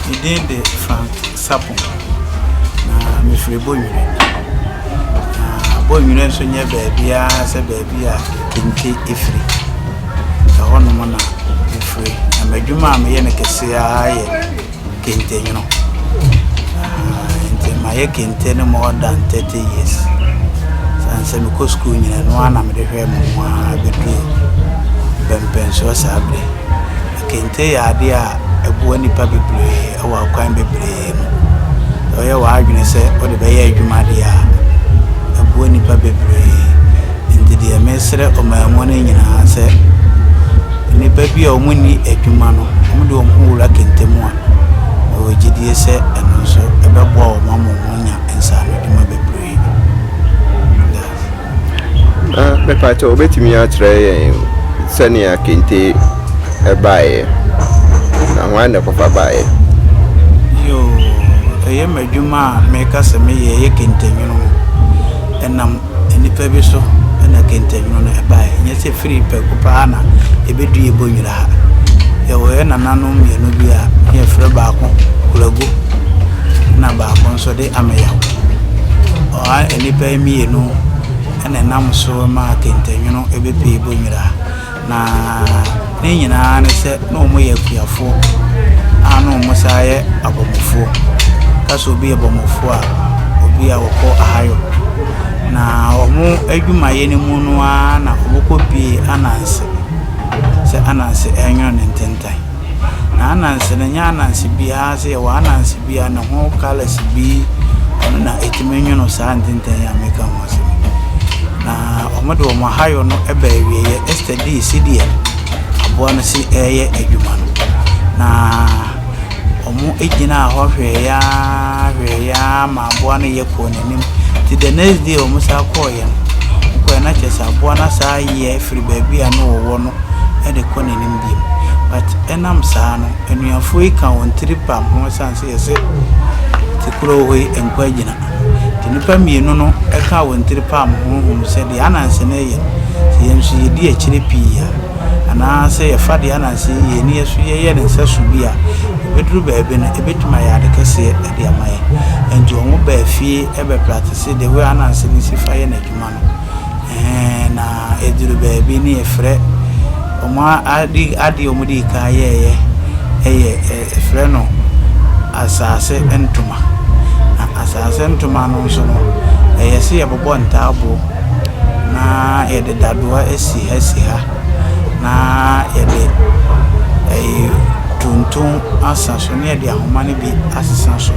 Me din de Frank Sapon, na mefiri Bonnwire. Na Bonnwire nso nyɛ baabiara sɛ baabi a kente firi. Ɛhɔnom na mefiri. Na m'adwuma a meyɛ no kɛse ara yɛ kente nwono. Aah nti mayɛ kente no more than thirty years. Sane sɛ mekɔ sukuu nyina no ara na mede hwɛ me ho ara bɛduru mpɛmpɛnsoɔ saa berɛ yi. Kente yɛ adeɛ a ɛboa nnipa bebree wɔ akwan bebree mu. Sɛ woyɛ w'adwene sɛ wode bɛyɛ adwuma deɛ a, ɛboa nnipa bebree. Nti deɛ mesrɛ ɔman mu no nyinaa sɛ nnipa bi a wɔn nni adwuma no wɔn de wɔn ho wura kente mu a mewɔ gyidie sɛ ɛno nso ɛbɛboa wɔn ama wɔn anya nsaano adwuma bebree. Na mepakyɛ wobɛtumi akyerɛ yɛn sɛnea kente ɛbaeɛ na ho anɛ kɔfa baeɛ. Yoo ɛyɛ m'adwuma a meka sɛ meyɛ ɛyɛ kente nwono ɛnam. Nnipa bi so na kentannwunu no bae, ɛnyɛ sɛ firi prɛko pɛ ara na ebedu yɛn bɔnwira ha. Yɛwɔ yɛn nananom mmienu bi a na yɛfrɛ baako Kulagu na baako nso de Ameyaw. Wɔn nnipa yi mmienu na ɛnam so maa kentannwunu bepue bɔnwira ha. Na ne nyinaa ne sɛ na ɔmo yɛ akuafoɔ a na ɔmo san yɛ abɔmofoɔ. Yɛka sɛ obi yɛ bɔmofoɔ a, obi a ɔkɔ ahayɔ. Na ɔmo adwumayɛ no mu no aa na ɔmo kɔ bue Ananse sɛ Ananse ɛnwono ne ntentan. Na ananse no nyɛ ananse bi ara sɛ yɛwɔ ananse bi a ne ho colours bi na ɛtumi nwono saa ntenten yi a meka ho asɛm yi. Na wɔde wɔn ahayɔ no ba awieeɛ. Esther dii sɛdeɛ aboa no si ɛreyɛ adwuma no. Na wɔgyinaa hɔ hwɛeɛ ara hwɛeɛ ara ma aboa no yɛ kɔɔ n'anim. Nti the next day wɔn san kɔeɛ no, wɔkɔeɛ no na kyerɛ sɛ aboa no asan ayɛ firi baabi a na wɔwɔ no de kɔ n'anim. bio. But ɛnam saa no anuafoɔ yi ka wɔn tiri pam ho ɛsiane sɛ yɛse te kuro hɔ yi nkɔ agyina. Nti nnipa mmienu no ɛkaa wɔn tiri pam ho hunu sɛ deɛ Ananse no reyɛ sɛ yɛn nso yɛdi akyire pii a anaa sɛ yɛfa deɛ Ananse yɛ yɛn ani ɛso yɛyɛ no nsɛso bi a ɛbɛduru baabi no ɛbɛtumi ayɛ ade kɛseɛ de ama yɛn. Nti wɔn baa fie bɛpraktise the way Ananse no si fa yɛ n'adwuma no. Ɛɛn na ɛduru baabi ne yɛfrɛ wɔn a ade adeɛ a wɔdii kan yɛeɛ yɛ yɛfrɛ no asaase ntoma. Na asaase ntoma no nso no, ɛyɛ sɛ yɛbobɔ ntaaboɔ na yɛde dadoa si ha si ha na yɛde ɛyi tonton asa so na yɛde ahoma no bi asesa so.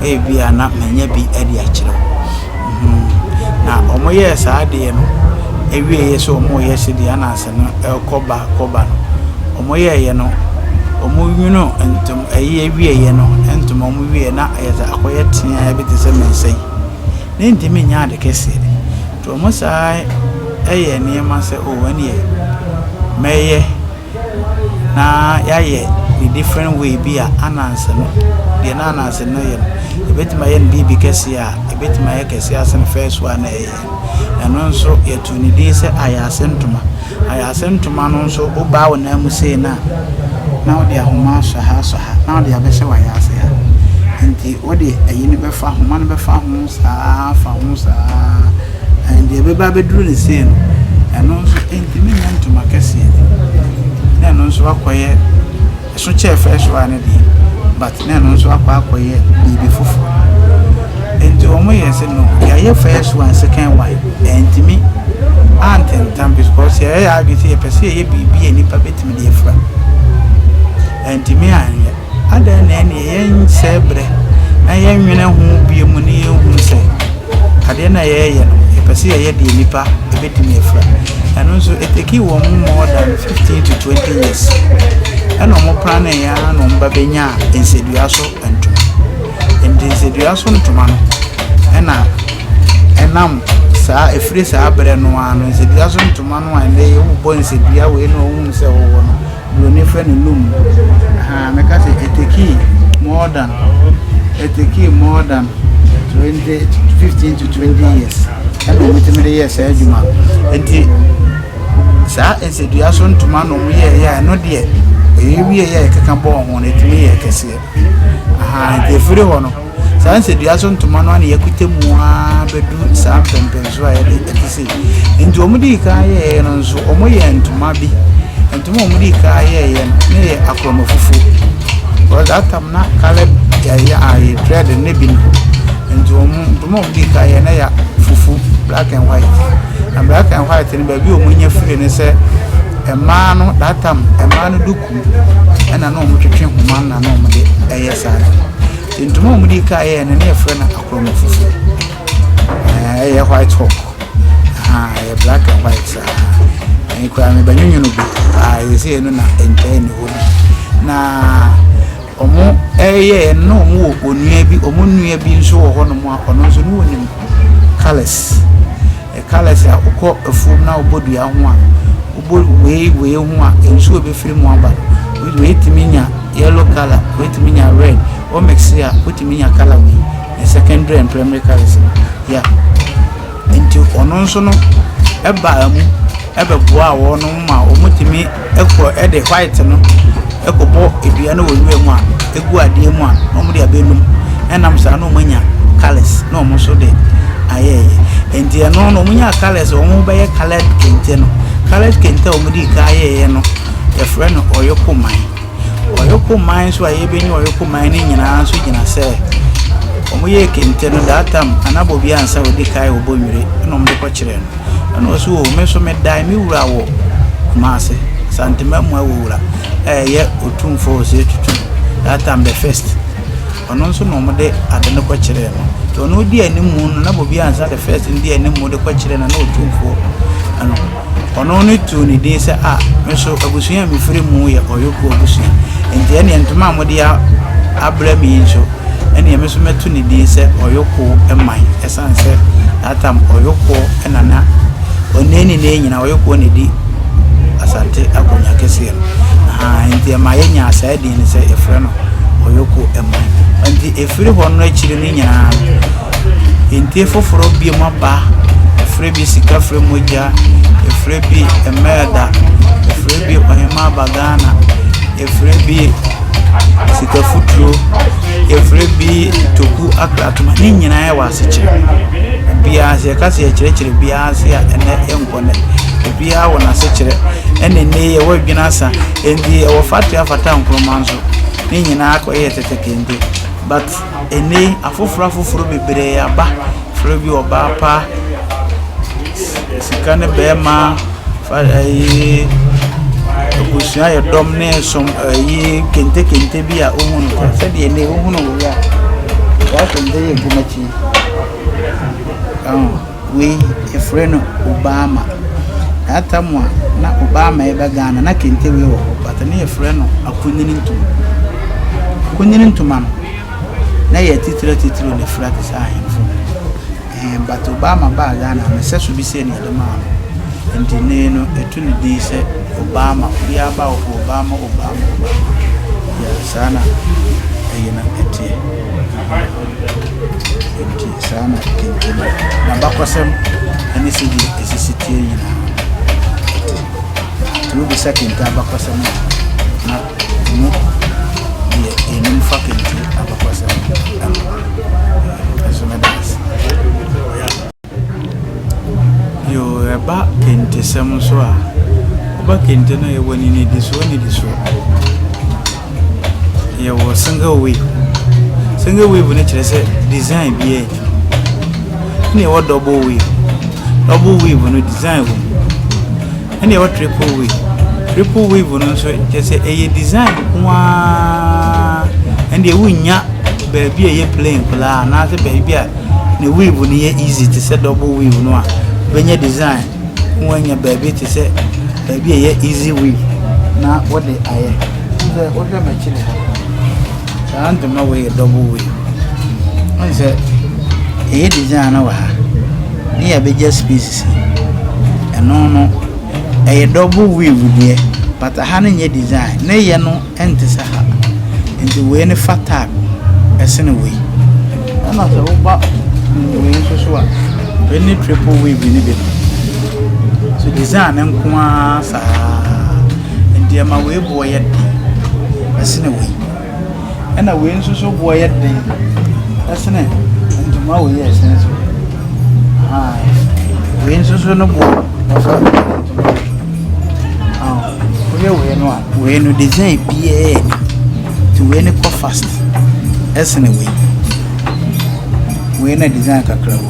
Ebia na manya bi de akyerɛ wo. Na wɔyɛɛ saa adeɛ no awieeɛ sɛ wɔreyɛ sɛdeɛ Anas no rekɔ ba kɔ ba no, wɔyɛeɛ no, wɔnwonoo ntoma, ɛyi awieeɛ no, ntoma wɔn wieeɛ na ɛyɛ sɛ akɔyɛ teaa bi te sɛ me nsa yi. Na ntumi nyɛ ade kɛseɛ. Nti wɔn saa ɛyɛ nneɛma sɛ, o ɛneɛ mɛyɛ. na yɛayɛ no different way bi a ananse no, deɛ na ananse no yɛ no, yɛbɛtumi ayɛ no biribi kɛseɛ a, ɛbɛtumi ayɛ kɛseɛ asen first one a na yɛyɛ no. Ɛno nso, yɛtoo no din sɛ ayaase ntoma. Ayaase ntoma no nso, wobaa wo nan mu sei no a, na wode ahoma asɔ ha asɔ ha, na wode abɛhyɛ w'ayaase ha. Nti wode ayi no bɛfa, ahoma no bɛfa ho saa, afa ho saa. Na deɛ ɛbɛba abɛduru no sei no, ɛno nso ɛntumi nyɛ ntoma kɛseɛ bi, na ɛno nso akɔyɛ, ɛso kyɛɛ first one no deɛ, but na ɛno nso akɔ akɔyɛ biribi foforɔ. Nti wɔn yɛ sɛ no, yɛayɛ first one, second one, ɛntumi antentam because yɛyɛ yɛ adwene sɛ yɛpɛ sɛ yɛyɛ biribi a nnipa bɛtumi de afira. Ɛntumi anyɛ. Adɛn na ɛneɛ yɛnsɛe berɛ na yɛnwene ho bio mu na yɛnhunu sɛ. adeɛ no a yɛyɛ no yɛpɛ sɛ yɛyɛ deɛ nipa ɛbɛtumi afira ɛno nso ɛtɛki wɔn mu more than 15 to 20 years ɛna wɔn pra no ɛyɛ na wɔn ba bɛnya nsedua so ntoma nti nsedua so ntoma no ɛna ɛnam saa ɛfiri saa berɛ no ano nsedua so ntoma no a ɛnɛ yɛwobɔ nsedua wei na wɔhunu sɛ wɔwɔ no Buroni frɛ no loom. Ahaa, meka sɛ it takee more than, it takee more than twenty, fifteen to twenty years ɛna wɔtumi de yɛɛ saa adwuma. Nti saa nsadua so ntoma na wɔyɛɛyɛ a ɛno deɛ ɛyɛ wie yɛ ɛkeka bɔɔ ho no ɛtumi yɛ kɛseɛ. Ahaa, nti ɛfiri hɔ no. Saa nsadua so ntoma no ara na yɛakota mu ara bɛdu saa mpɛmpɛnsoɔ a yɛde ɛte sei. Nti wɔn dii kan yɛeɛ no nso, wɔyɛ ntoma bi. Ntoma a wɔn dii kan yɛeɛ no, na ɛyɛ akorɔma fufuo. Because that time na colored ɛyɛ ayɛ dread ne bi no. Nti wɔn ntoma a wɔn dii kan yɛeɛ no yɛ fufu, black and white. Na black and white no baabi a wɔnya firi ne sɛ, mmaa no that time mmaa no duku. ɛna na wɔtwetwe nhoma na na wɔde ɛyɛ saa no ntoma a wɔde ka yɛɛ no na yɛfrɛ no akorɔmɔ fufuo ɛyɛ white hawk ɛyɛ black and white saa ɛyɛ kura mebɛnwonwono bi ɛyɛ sɛ ɛno na ɛntɛn ne hɔ bi na Wɔyɛeɛ no na wɔwɔ onua bi, wɔn nua bi nso wɔ hɔnom a ɔno nso na ɔnim colours. Colours a wokɔ afuom na wobɔ dua ho a, wobɔ wei wei ho a, nsuo a ɛbɛfiri mu aba no, woatumi anya yellow colour, woatumi anya red. Wo mix-e a, wotumi nya colour wei. Ɛyɛ secondary and primary colours no. Yeah. Nti ɔno nso no baa mu bɛboaa wɔnom ma wɔtumi. kɔ de white no kɔbɔ dua no wɔ nwura mu a ɛgu adeɛ mu a na wɔn de abɛnum ɛnam saa na wɔn anya colours na wɔn nso de ayɛɛyɛ nti ɛno na wɔn nya colours wɔn ho bɛyɛ coloured kente no coloured kente a wɔn de ka ayɛɛyɛ no yɛfrɛ no ɔyoko man ɔyoko man nso a yɛbɛnya ɔyoko man no nyinaa nso gyina sɛ wɔn yɛ kente no that time anabɔ bi ansa wɔde kae wɔbɔ nwere na wɔn de kɔkyerɛ no. Ɛna ɔse oo me nso me dae me wura wɔ Kumasi Asantema mu ɛwɔ wura ɛyɛ otumfoɔ ɔse tutu that time the first ɔno nso na wɔde ade no kɔ kyerɛ no nti ɔno di anim mu no na bobi ansa the first no di anim mu de kɔ kyerɛ no na otumfoɔ ɛno ɔno ne tu ne din sɛ a me nso abusua a mefiri mu yɛ ɔyɔkuo abusua nti ɛneɛ ntoma a mode abrɛ me yi nso ɛneɛ me nso mɛto ne din sɛ ɔyɔkuo man ɛsɛ Esiane sɛ that time ɔyokoɔ na na onii ne nea nyinaa ɔyokoɔ na edi asante akonwa kɛseɛ no ahaa nti ɛma yɛnyaa saa din no sɛ yɛfrɛ no ɔyoko ɛman nti efiri hɔ no akyiri no nyinaa nti foforɔ bie mu aba efrɛ bi sika frɛ mogya efrɛ bi ɛmɛɛda efrɛ bi ɔhema aba ghana Yɛfrɛ bi sika futuro, yɛfrɛ bi toku aklatena. Ne nyinaa yɛ wɔ asekyerɛ. Obiara sɛ yɛka sɛ yɛkyerɛkyerɛ biara ase a ɛnɛ ɛnkɔ nnɛ. Obiara wɔ n'asekyerɛ. Ɛna ɛnɛ yi ɛwɔ adwene asa. Ɛnti ɛwɔ fatoa fata Nkrumah nso. Ne nyinaa akɔyɛ tete kente but. Ɛnnɛ yi, afoforo afoforo bebree aba, frɛ bi ɔbaa pa, sika ne barima, fa ɛyi, abusua yɛ dɔm ne som ɛyi kentekente bi a wohu no kwa. Sɛdeɛ ɛnnɛ yi wohu no wɔ yi a, saa kente yi nkumakyi yi. Wei yɛfrɛ no Obama. Daa tam a na Obama reba Ghana na kente wei wɔ hɔ but na yɛfrɛ no akunini ntoma. Akunini ntoma no na yɛ atitire atitire na efira te sɛ ahemfo. Ɛɛ but Obama baa Ghana no sɛ so bi sɛ na yɛde maa no. Nti ne no etu ne din sɛ Obama. Obiara ba wɔ Obama Obama Obama. Yeah, saa na ɛyi no ɛteɛ. Nti saa na ɛtintim. N'abakɔsɛm ne sɛdeɛ ɛsisi teɛ nyinaa, tumi bisa kente abakɔsɛm a, na ɛmu deɛ ɛnim fa kente abakɔsɛm ho. Ɛso meda ase. Bio, ɛba kentesɛm nso a, woba kente no a, yɛwɔ no nnidisoɔ nnidisoɔ. Yɛwɔ single wave. Single wave no kyerɛ sɛ design bi yɛ adwuma. Na yɛwɔ double wave. Double wave no design wɔ mu. Ɛna ɛwɔ triple weave. Triple weave no nso kyerɛ sɛ ɛyɛ design nko ara. Ɛndeɛ wonnya baabi a ɛyɛ plain koraa anaasɛ baabi a ne weave no yɛ easy te sɛ double weave no a wobɛnya design na woanya baabi te sɛ baabi a ɛyɛ easy weave na wode ayɛ. Wohwɛ m'akyi ha. Saa ntoma wei yɛ double way ɔn sɛ ɛyɛ design na wɔ ha ne yɛ bɛgya space si ɛno no ɛyɛ double way wudeɛ but ha no nyɛ design ne yɛ no ɛnte sɛ ha nti wei ne fa tag ɛsene wei ɛna sɛ woba wei nso so a wei ne triple way bi ne bi no so design nko ara saa. nneɛma wei boɔ yɛ den ɛsene wei ɛna wei nso so boɔ yɛ den ɛsene ntoma wei yɛ ɛsene so wei nso so no boɔ ɔfa ntoma woyɛ wei no a wei no design biara ni nti wei no kɔ fast ɛsene wei wei na design kakra wɔ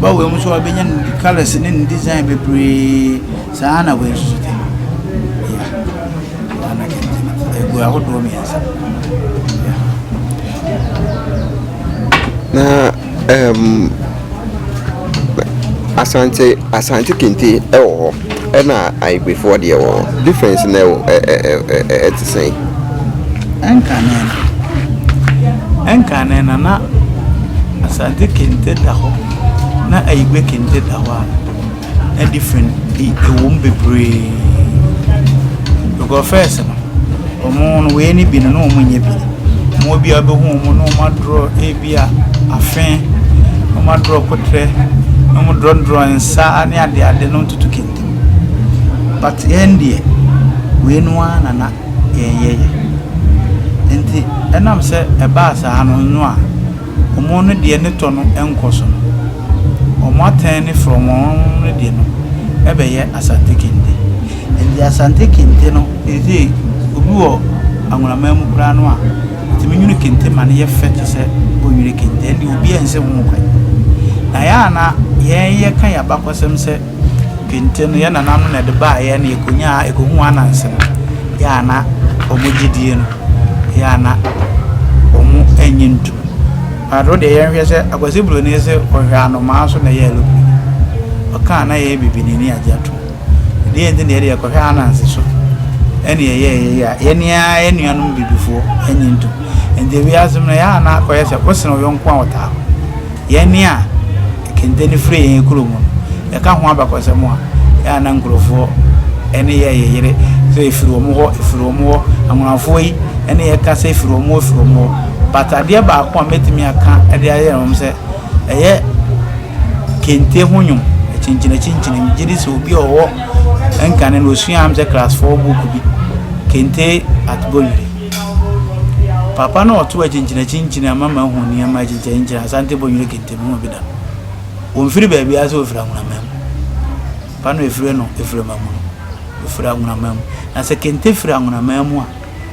ba wei mu nso wabɛnya ne ne colours ne ne design bebree saa na wei nso te ya ana kente egu ahodoɔ mmiɛnsa na um, asante asante kente ɛwɔ hɔ Ɛna Agbefoɔ deɛ wɔ hɔ difference na ɛwɔ ɛ ɛ ɛ ɛ ɛ ɛte sɛn? Ɛnkane no, ɛnkane no na Asante kente da hɔ na Ayigbe kente da hɔ a, na different bi ɛwɔ mu bebree. Because first no, wɔn no wei ne bi no na wɔn nyɛ bi. Wɔn biara bɛhu wɔn na wɔn adorɔ. Bi a afe, na wɔadrɔ koterɛ, na wɔdrɔdrɔ nsa ne adeade na wɔtoto kente mu. But yɛn deɛ, wei no ara na na yɛyɛ yɛ. Nti ɛnam sɛ ɛbaa saa no no a, wɔn no deɛ ne tɔ no nkɔ so no, wɔatɛn ne frɔmm wɔn no deɛ no bɛyɛ Asante kente. Nti Asante kente no seesei obi wɔ Angola man mu koraa no a, Nti me nwene kente ma no yɛ fɛ te sɛ wo nwene kente a, ɛnde obiara nsi ho kwan. Na yɛn a na yɛn yɛka yɛn abakɔsɛm sɛ kente no, yɛn nananom na ɛde baa yɛn na yɛkɔnyaa, yɛkɔhuu Ananse no, yɛn a na wɔn gyedie no, yɛn a na wɔn nnye ntom. But wo deɛ yɛnhwɛ sɛ Akwasi Broni se ɔhwɛ anomaa so na ɛyɛ aeroplane. Ɔkaa na yɛyɛ bibinini agye atom. Ɛdeɛ a ɛnti deɛ ɛdeɛ kɔhwɛ Ananse so ɛne ɛyɛ ɛyɛ a yɛne ara yɛ nuanom bibifoɔ ɛnye ntom nti wiase mu no yɛ a na akɔyɛ sɛ wosene wo yɔnko a wɔtaa hɔ yɛne a kente no firi yɛn kuro mu no yɛka ho abakɔsɛm a yɛ a na nkurɔfoɔ ɛne yɛ yɛ yere sɛ ɛfiri wɔn hɔ ɛfiri wɔn hɔ anwonafoɔ yi ɛne yɛka sɛ ɛfiri wɔn hɔ ɛfiri wɔn hɔ but adeɛ baako a mɛtumi aka ɛde ayɛ wɔn sɛ ɛyɛ kente ho nwom, akyinkyinakyinkyini. Megye di sɛ obi a ɔwɔ nkane no ɔsuaa m sɛ class four book bi, Kente at Bolire. Papa no ɔto akyinkyinakyinkyini ama mahu nneɛma akyinkyinakyinkyini Asante Bolire kente mehu bi da. Wɔmfiri baabiara sɛ wɔfiri Anwonama mu. Papa no ɛfire no ɛfiri Amamunu, ɛfiri Anwonama mu. Na sɛ kente firi Anwonama mu a,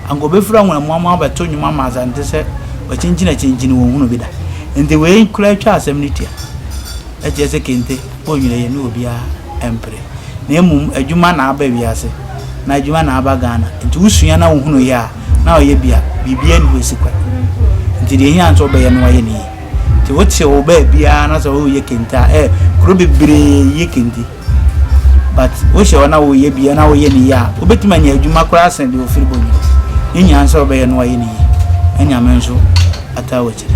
anka obefura wɔn amoa mu abɛto nnwom ama Asante sɛ wakyinkyin akyinkyin wɔn hunu bi da. Enti wei koraa twa asɛm no tua. Ɛkyerɛ sɛ kente bɔ nwera yɛ ne obiara mpere. Na mmom adwuma na aba wiase, na adwuma na aba Ghana. Enti wosua na wohunu yɛ a, na ɔyɛ bi a, biribiara nni hɔ asi kwan. Enti deɛ ɛhia ne sɛ wobɛyɛ na woayɛ no yie. Enti wote wo baabiara na sɛ woreyɛ kente a, eh, kuro bebree yɛ kente. But wohyɛ hɔ na woyɛ bi na woyɛ ne yie a, wobɛtumi anya adwuma koraa sen deɛ ɔfiri bɔ no. Ne nyinaa ne sɛ wobɛyɛ na woayɛ ne yie na Nyame nso ataa w'akyiri.